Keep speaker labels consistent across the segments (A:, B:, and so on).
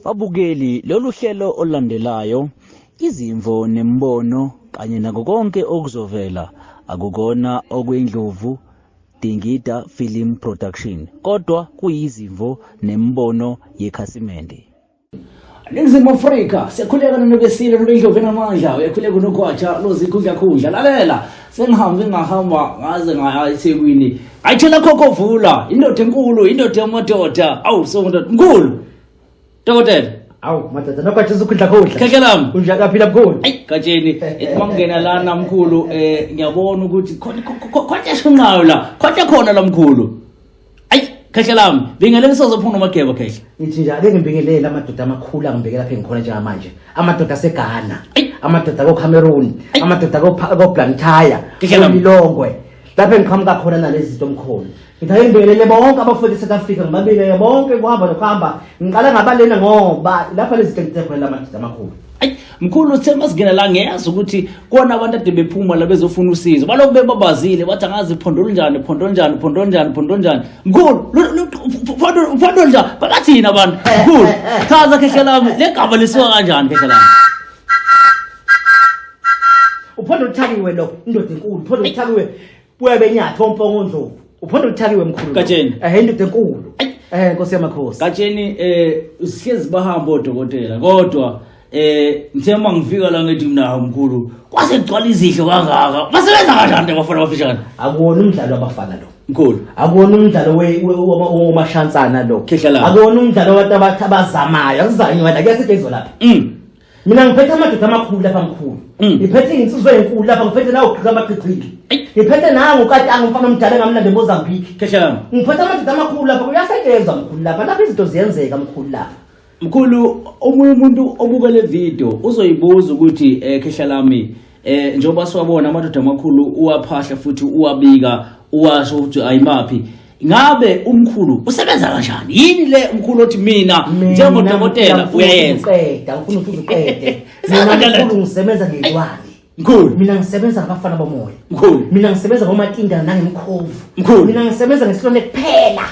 A: Babukeli lolu hlelo olulandelayo izimvo nembono kanye nako konke okuzovela akukona okwendlovu Dingida Film Production kodwa kuyizimvo nembono yekhasimende.
B: Ningizimu Afrika siyakhuleka nonobesile nobendlovu enamandla uyakhuleka unokhwatsha lozikhundlakhundla lalela sengihambe ngahamba ngaze ngaya ethekwini ngayitshela khokho vula indoda enkulu indoda yamadoda awu sondoda mkhulu dokotela Awu madoda
C: nokwathe ukhundla khundla. khekhe lami Kunja kaphila
B: mkhulu. ayi
C: gatsheni
B: ethi mangena lana mkhulu um ngiyabona ukuthi khona khona- khona esho ngayo la khona khona la mkhulu ayi khehla lami bingelele sozophuma nomageba khehla ngithi nje ake ngibingelele
C: amadoda amakhulu angibekela phe ngikhona njengamanje amadoda aseghana amadoda kocameroon amadoda koblantyre ilongwe lapho engiqhamuka khona nalezi zinto omkhulu ngithi ake ngibingelele bonke abafowethu esouth africa ngibabingelele bonke kuhamba nokuhamba ngiqala ngabalena ngoba lapha lezi zinto ngithe khona la madoda amakhulu Mkhulu
B: uthe masigena la ngiyazi ukuthi kona abantu ade bephuma la bezofuna usizo. Balokhu bebabazile bathi angazi phondo linjani, phondo linjani, phondo linjani, phondo linjani. Mkhulu phondo phondo linjani? Bathina abantu. Mkhulu chaza khehla lami legama lisuka kanjani khehla lami? Uphondo uthaliwe lo indoda enkulu,
C: phondo uthaliwe. Webe nyatho mpongo ndlovu. Uphonda uthakiwe mkhulu. Gatsheni. Eh ndoda enkulu. Eh Nkosi yamakhosi. Gatsheni eh
B: sihlezi bahamba odokotela kodwa eh ngithe uma ngifika la ngithi mina hawu mkhulu kwase kugcwala izidlo kangaka basebenza kanjani abafana abafishane Akuwona umdlalo
C: wabafana lo. mkhulu Akuwona
B: umdlalo we-
C: we- woma- womashansana lo. Khehla la. Akuwona umdlalo
B: wabantu
C: abathi abazamayo. Akuzanyi wena kuyasithe izolapha. mm mina ngiphethe amadoda amakhulu lapha mkhulu mm. ngiphethe iy'nsizwa ey'nkulu lapha ngiphethe nawo gqika amagqigqili ngiphethe nangu kade angumfana omdala engamlanda emozambique kheshelama ngiphethe
B: amadoda amakhulu
C: lapha kuyasetshenzwa mkhulu lapha lapha izinto ziyenzeka mkhulu lapha mkhulu
B: omunye umuntu obuka le video uzoyibuza ukuthi um khehla lami um eh njengoba siwabona amadoda amakhulu uwaphahla futhi uwabika uwasho ukuthi ayimaphi ngabe umkhulu usebenza kanjani yini le umkhulu othi mina njengodokotela uyayenza uqeda ufuna ukuthi
C: uqede mina mkhulu ngisebenza ngelwane mkhulu mina
B: ngisebenza ngabafana
C: bomoya mkhulu mina ngisebenza
B: ngomakingana
C: nangemkhovu mkhulu mina ngisebenza
B: ngesilwane
C: kuphela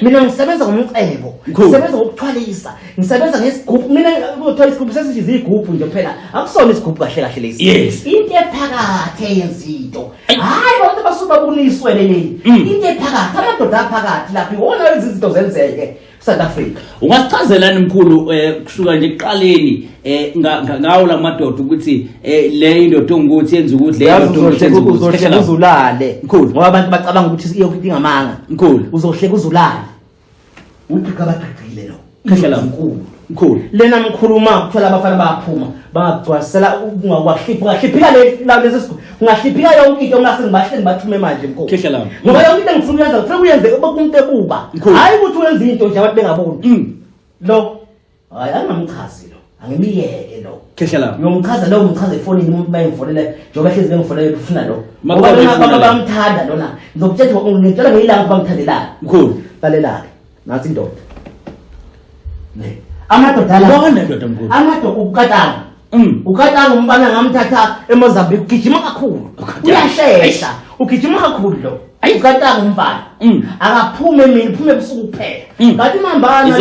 C: mina ngisebenza ngomcebo ngisebenza ngokuthwalisa ngisebenza ngesigubhu mina uthwala isigubhu sesithi izigubhu nje kuphela akusona isigubhu kahle kahle lesi yes into
B: ephakathi
C: eyenza into hayi abantu basuba kuniswele leli mm. into ephakathi amadoda aphakathi lapho iwona izinto zenzeke south africa ungasichazelani
B: mkhulu eh, kusuka nje ekuqaleni eh, ngawo la madoda ukuthi eh, le indoda ongukuthi yenza ukuthi le indoda ongukuthi yenza ukuthi uzohleka
C: uzulale mkhulu ngoba abantu
B: bacabanga ukuthi
C: iyokuthi ingamanga mkhulu uzohleka
B: uzulale
C: uphika abagqile lo khehlela mkhulu
B: mkhulu lena mkhuluma
C: kuthola abafana bayaphuma bangagcwasela ukungakwahliphi ukahliphika lesi ngahliphika yonke into ngase ngibahle ngibathume manje mkhulu khehla lami ngoba yonke into
B: engifuna uyenza
C: ngifuna uyenze obakumuntu ekuba hayi ukuthi wenza into nje abantu bengaboni mm. lo hayi angamchazi lo angimiyeke lo khehla lami ngiyomchaza
B: lo ngimchaza
C: efonini umuntu mayengifonele njengoba hlezi bengifonele kufuna lo ngoba bamthanda lona ngizokutshela ngitshela ngeyilanga bamthandelani mkhulu balelake Nathi indoda. Ne. Amadoda la. Bona ndoda mkhulu. Amadoda
B: ukukatanga.
C: Mm. Ukatanga umbana ngamthatha eMozambique ugijima kakhulu. Uyashesha. Ugijima kakhulu lo. ayikatanga umfana mm. akaphume mina iphume ebusuku kuphela mm. kanti umambana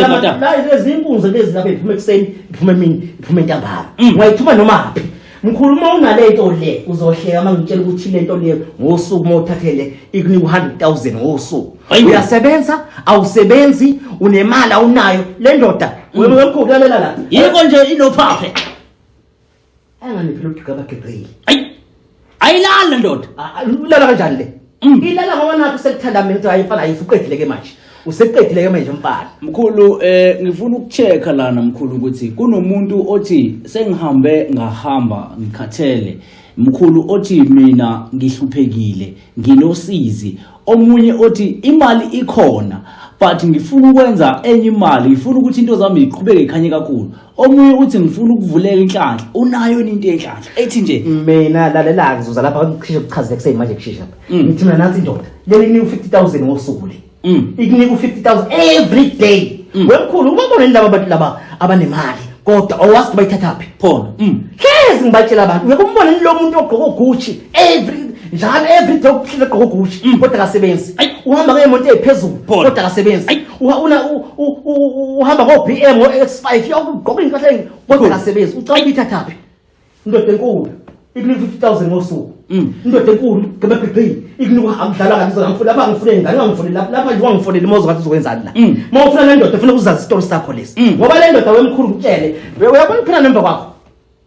C: lezi inkunzi lezi lapha iphume ekuseni iphume emini iphume entambama mm. wayithuma noma phi Mkhulu uma unalento le uzohleka uma ngitshela ukuthi lento le ngosuku uma uthathele ikunika u-100000 ngosuku Ayiwe. uyasebenza awusebenzi unemali awunayo le ndoda wemkhulu lalela la yiko nje inophaphe anganiphi lodugabagedreyile ayi
B: ayilali le ndoda lala kanjani le
C: Mm. Ilala ngoba nakho sekuthanda mina ukuthi hayi mfana hayi usuqedile ke manje. Useqedile ke manje mfana. Mkhulu eh
B: ngifuna ukuchecka lana mkhulu ukuthi kunomuntu othi sengihambe ngahamba ngikhathele. Mkhulu othi mina ngihluphekile, nginosizi. Omunye othi imali ikhona but ngifuna ukwenza enye imali, ngifuna ukuthi into zami ziqhubeke ikhanye kakhulu. omunye uthi ngifuna ukuvuleka inhlanhla unayo into yenhlanhla ethi nje mina lalela
C: ngizoza lapha ngikhishe kuchaze kuseni manje kushisha lapha mm. ngithi mina nathi indoda leli ngiku 50000 ngosuku le mm. ikunike u 50000 every day mm. wemkhulu ubabona indaba abantu laba abanemali kodwa owazi bayithathaphi phona hlezi ngibatshela abantu uyakumbona lo muntu ogqoka ugucci every njalo every day ukuhlele gqoka ugucci kodwa akasebenzi uhamba ngemoto ephezulu kodwa akasebenzi una uhamba ngo BM ngo X5 yokugqoka impahla engi kodwa kasebenzi ucela ukuyithathaphi indoda enkulu ikunika 50000 ngosuku mm. indoda enkulu gebe bhibhi ikunika hamdlala kanti zona ngifuna lapha ngifune ngani ngangifune lapha lapha nje wangifune limozo ngathi uzokwenzani la mm. uma ufuna le ndoda ufuna ukuzazi story sakho lesi mm. ngoba le ndoda wemkhulu ngitshele uyabona phela nemba kwakho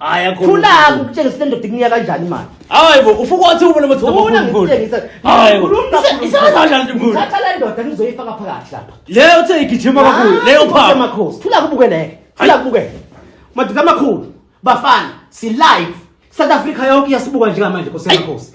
C: Hayi akho. Khula ukutshengisa le ndoda ikunika kanjani imali. Hayi bo ufuka wathi
B: ubona ukuthi Khula ngikutshengisa. Hayi bo. Isebenza kanjani nje mkhulu? Thatha le ndoda ngizoyifaka
C: phakathi lapha. Leyo uthe igijima
B: kakhulu. Leyo phaka. Makhosi. Khula kubuke leke.
C: Khula kubuke. Madoda amakhulu. Bafana si live. South Africa yonke iyasibuka njengamanje Nkosi yamakhosi.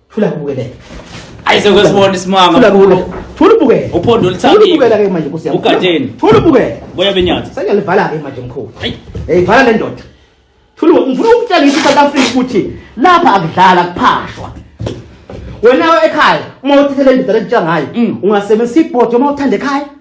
B: thula
C: kubukelele ayi sekwesibona
B: isimanga thula kulo thula ubukele
C: uphondo olithambile thula ubukela
B: ke manje nkosi yami
C: ugatsheni thula ubukele
B: boya
C: benyathi sengiyalivala
B: ke manje
C: mkhulu hey hey vala le
B: ndoda
C: thula ngifuna ukutshela ukuthi South Africa ukuthi lapha akudlala kuphashwa wena ekhaya uma uthethele indlela etshela ngayo mm. ungasebenzisa ibhodi uma uthanda ekhaya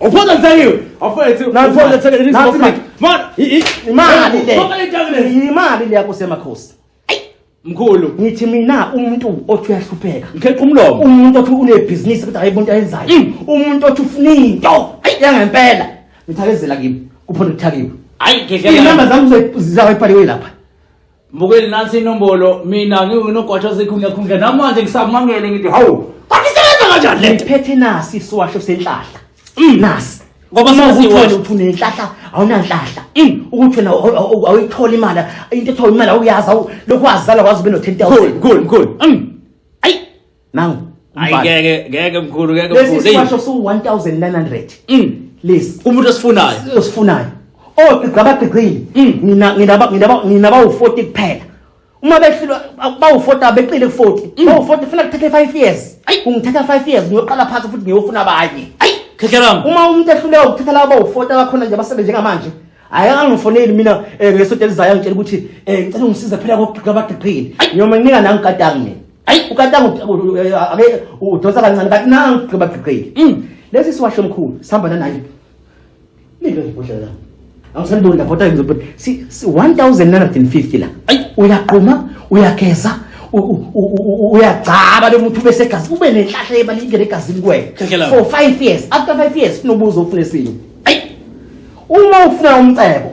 C: Awufunda
B: ngithakiwe. Awufunda ethi awufunda ethi lesi
C: Nansi
B: mfana. Man, i- i- Imali le. Baka
C: lentaka lesi. Imali le yakosemakhosi. Mkhulu,
B: Ngithi mina
C: umuntu othi uyahlupheka. ngikheqa umlomo. Umuntu
B: othi unebhizinisi
C: kodwa hayi bonto ayenzayo. Mm. Umuntu othi ufuna into yangempela. Ngithakezela kimi. Kuphona ukuthakiwe. Hayi, Inamba
B: ngidlela.
C: zami zizoyibhaliwe lapha. Mbukeli
B: nansi inombolo mina ngingunogwatsha sekhundlakhundla namanje ngisamangele ngithi hawu kanti isebenza kanjani le nto Ngiphethe nasi isiwasho
C: senhlahla. Nasi. Ngoba Uma singasiwasho.
B: ukuthole ukuthi unenhlahla
C: awunanhlahla. Ukuthi wena awu- awu- awuyitholi imali into ethola imali awuyazi awu lokhu wazala wazi ube no 10000. Mkhulu, mkhulu, mkhulu.
B: Mm. nangu
C: Hayi umbhalo. ngeke
B: ngeke mkhulu ngeke lesi mkhulu. Eyi, siwasho siwu-1900
C: mm, lesi Umuntu osifunayo.
B: osifunayo
C: oqhiqi abaqhiqile Mm. Ngina- nginaba- nginaba- nginabawu-40 kuphela uma behlulwa bawu-40 abeqile ku-40 Mm. bawu-40 funa kuthathe five years Ayi. kungithatha five years ngiyoqala phansi futhi ngiyofuna abanye Ayi khekhelam. uma
B: umuntu ehluleka
C: ukuthatha laba bawu-40 abakhona nje abasebenze njengamanje hhayi angifoneli mina um ngesonto elizayo angitshela ukuthi um ngicela ungisiza phela koqhiqi abaqhiqile Ayi. ngiyoma nginika nangigadanga mina ayi ukatanga ake udonsa kancane kanti nangu gqiba gqiqile mm. lesi siwasho mkhulu sihamba nanaye lento ngibhodlela la angisandoni lapho tayo ngizobona si 1950 la ayi uyaqhuma uyageza uyagcaba lo muntu bese gazi kube nenhlahla yemali ingene egazini kwena for 5 years after 5 years unobuzo ofuna esinye ayi uma ufuna umcebo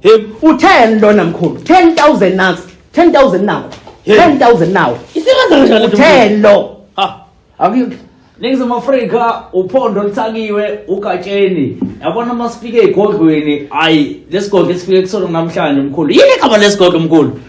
C: Hey, utheni lona mkhulu 10000 naks 10000 nawo 10000 nawo
B: Isebenza
C: kanjani
B: lento? uthelo Ha.
C: Akuyo Ningizimu Afrika
B: uphondo olithakiwe ugatsheni. Yabona uma sifike egodlweni, ayi lesigodlo esifike kusona namhlanje mkhulu. Yini igama lesigodlo mkhulu?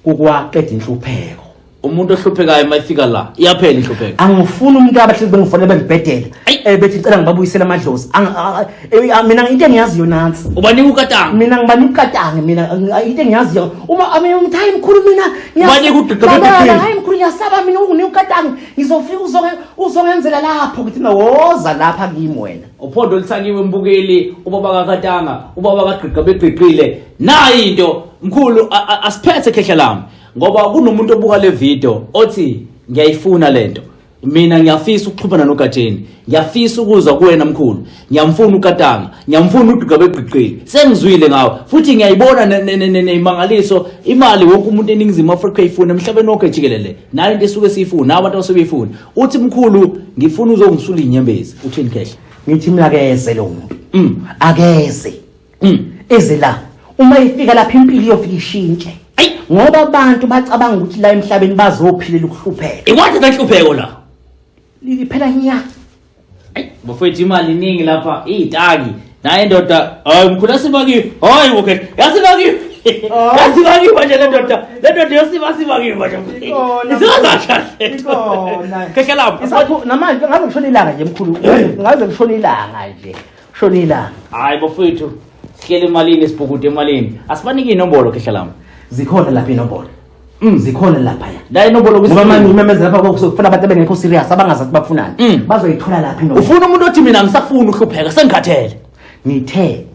B: kukwaqeda
C: inhlupheko umuntu ohluphekayo
B: uma efika la iyaphela inhlupheko angifuni umuntu abahlezi
C: bengifonele bengibhedela Ayi. eh bethi ngicela ngibabuyisele amadlozi Ang- a- a- eh, ah, mina into engiyaziyo nansi ubanika ukatanga mina
B: ngibani ukatange
C: mina ang- ah, into engiyaziyo uma ah, mina ngithi hayi mkhulu mina ngiyas- Ubani kududla Baba,
B: kwepipi? hayi mkhulu ngiyasaba
C: mina unginika ukatange ngizofika uzonge- uzongenzela lapho ukuthi mina woza lapha kimi wena uphondo olithakiwe
B: mbukeli ubaba kakatanga ubaba kagqigqa begqigqile nayi into mkhulu a- a- asiphethe khehla lami ngoba kunomuntu obuka le video othi ngiyayifuna lento mina ngiyafisa ukuxhumana nogatsheni ngiyafisa ukuzwa kuwena mkhulu ngiyamfuna ukatanga ngiyamfuna uduka begqiqile sengizwile ngawe futhi ngiyayibona nemangaliso imali wonke umuntu eningizimu afrika ifuna emhlabeni wonke jikelele nayo into esuke siyifuna nawo abantu abasebeyifuna uthi mkhulu ngifuna uzongisula inyembezi uthini khehla ngithi mina akeze
C: lo muntu mm. akeze Mm, eze la uma ifika lapha impilo iyofika ishintshe Ayi. ngoba abantu bacabanga ukuthi la emhlabeni bazophilela ukuhlupheka Iwathi kanhlupheko la.
B: Lili, phela
C: nya Ayi,
B: bafowethu imali iningi lapha iyitaki. Naye ndoda, hayi mkhulu asibakiwe. Hayi okay. Yasibakiwe. Oh. Yasibakiwe manje le ndoda. Le ndoda yosiba sibakiwe manje. Ikhona. Isizakhala. Ikhona.
C: Khehla lapha. Isapho-
B: namanje ngaze kushona ilanga
C: nje mkhulu ngaze kushona ilanga nje shona ilanga hayi bafowethu
B: sihlele emalini sibhukude emalini asibanike inombolo khehla lami zikhona lapha inombolo
C: Mm. zikhona lapha ya la inombolo ngoba kwisi-
B: manje imemezela
C: lapha kokufuna abantu abengekho serious abangazi ukuthi bafunani Mm. bazoyithola lapha inombolo ufuna umuntu othi mina ngisafuni
B: uhlupheka sengikhathele ngithe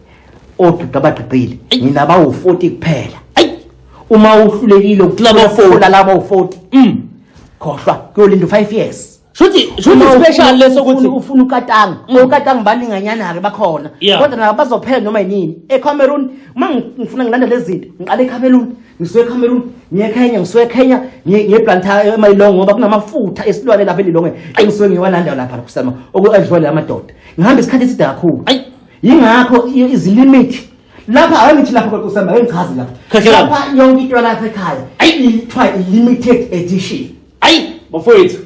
C: odudu abagqigqile Eyi. nginabawu-40 kuphela ayi uma uhlulekile Kulaba 40. laba u-40 mm. khohlwa kuyolinda u-5 years shuthi shuthi
B: special leso ukuthi ufuna ukatanga
C: mm. ukatanga baninganyana ke bakhona kodwa nabo bazophela noma yini eCameroon uma ngifuna ngilanda lezi zinto ngiqale eCameroon ngisuke eCameroon ngiye eKenya ngisuke eKenya ngiye eBlantyre eh, eMayilongo ngoba kunamafutha esilwane lapha elilonge engisuke ngiwalanda lapha kusama okudlwele amadoda ngihamba isikhathi eside kakhulu ayi yingakho izilimit lapha awangithi lapha kodwa kusama ngichazi lapha lapha yonke into lapha ekhaya ayithwa limited edition ayi bafowethu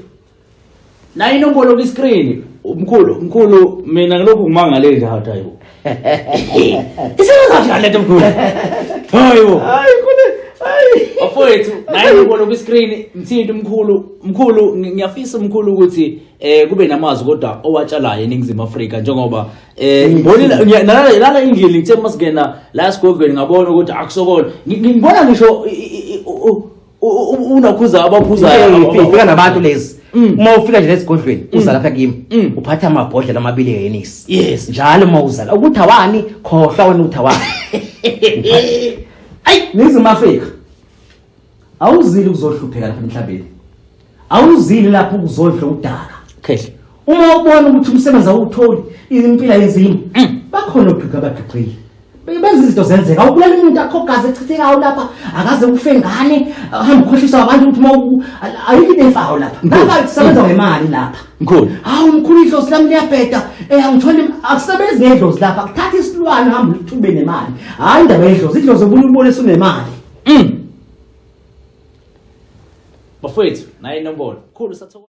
B: nayo inombolo kwi-screen umkhulu umkhulu mina lokhu ngimangale nje hawu hayibo isebenza njani lento mkhulu hayibo hayi kune hayi bafowethu nayo inombolo kwi-screen mthinta umkhulu mkhulu ngi- ngiyafisa umkhulu ukuthi eh kube namazwi kodwa owatshalayo eningizimu afrika njengoba eh ngibonile ngiya- nalala nalala indlela ngithe uma singena la esigodlweni ngabona ukuthi akusokona Ngi- ngibona ngisho i- i- i- u- u- unakhuza abakhuzaufika nabantu lezi
C: mm. uma ufika nje lesigodlweni mm. uza lapha kimi mm. uphatha amabhodlela amabili eyenisi yes njalo uma
B: uzala ukuthi
C: awani khohlwa wena ukuthi awani ayi nizima afrika awuzile ukuzohlupheka lapha emhlabeni awuzile lapho ukuzodla udaka khehla uma
B: ubona ukuthi
C: umsebenzi awutholi impilo ayinzima mm. bakhona oduka abadugile benza izinto zenzeka awubulala umuntu akho gazi echithekayo lapha akaze ufe ngane hamba ukhohlisa abantu ukuthi uma ayikho into efayo lapha ngaba kusebenza ngemali lapha mkhulu hawu
B: mkhulu idlozi
C: lami liyabheda um eh, angitholi akusebenzi ngedlozi lapha kuthatha isilwane hamba uthube nemali hhayi indaba yedlozi idlozi obulubona esunemali mm.
B: bafowethu naye inombolo khulu sathokoza